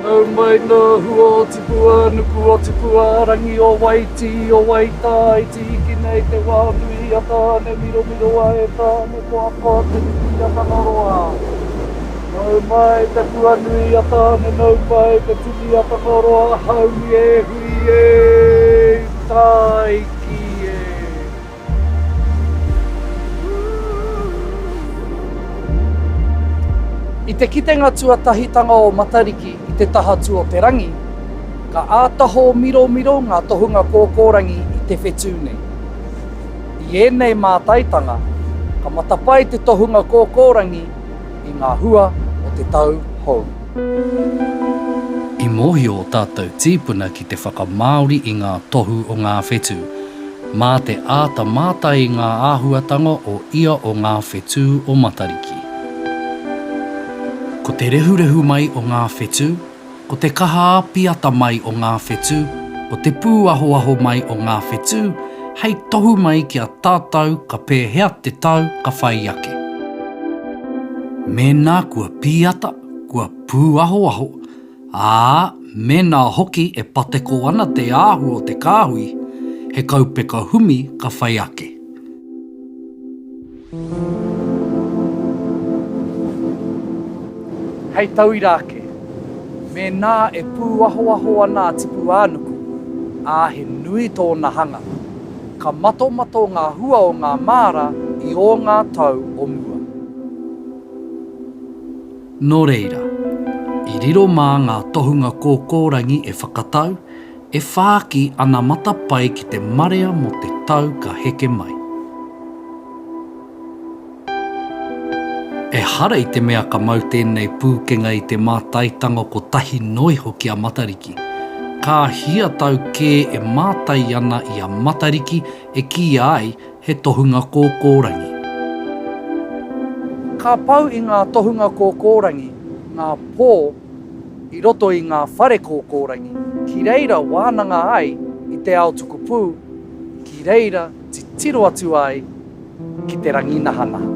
Nau mai ngā hua o tipua nuku o tipua rangi o Waitī o Waitā i tīki nei te wā nui a Tāne miromiroa e Tāne koakoa te nuku i a Tangaroa. Nau mai te puanui a Tāne Nau pai te tini a Tangaroa Haumi e hui e Tāiki e. I te kitenga tuatahitanga o Matariki i te taha tu o te rangi, ka āta hōmiromiro ngā tohunga kōkōrangi i te whetū nei. I ēnei mātaitanga, ka matapae te tohunga kōkōrangi, i ngā hua o te tau hou. I mōhio ō tātou tīpuna ki te whakamāori i ngā tohu o ngā whetū. Mā te āta mātai i ngā āhuatanga o ia o ngā whetū o Matariki. Ko te rehurehu mai o ngā whetū, Ko te kaha āpiata mai o ngā whetū, ko te pūahoaho mai o ngā whetū, hei tohu mai ki a tātau ka pēhea te tau ka whai ake. Mēnā kua pīata, kua pūahoaho, ā, mēnā hoki e pateko ana te āhua o te kāhui, he kaupeka humi ka whai ake. Hei tauira ake, mēnā e pūahoaho ana a Tipuānuku, ā, he nui tōna hanga, ka matomato ngā hua o ngā māra i ō ngā tau o mua. Nō reira, i riro mā ngā tohunga kōkōrangi e whakatau, E whāki ana matapae ki te marea mō te tau ka heke mai. Ehara i te mea ka mau tēnei pūkenga i te mātaitanga kotahi noa iho ki a Matariki. Ka hia tau kē e mātai ana i a Matariki e kīia ai he tohunga kōkōrangi. Ka pau i ngā tohunga kōkōrangi ngā pō i roto i ngā whare kōkōrangi ki reira wānanga ai i te ao tukupū, ki reira titiro atu ai ki te rangi nahanaha.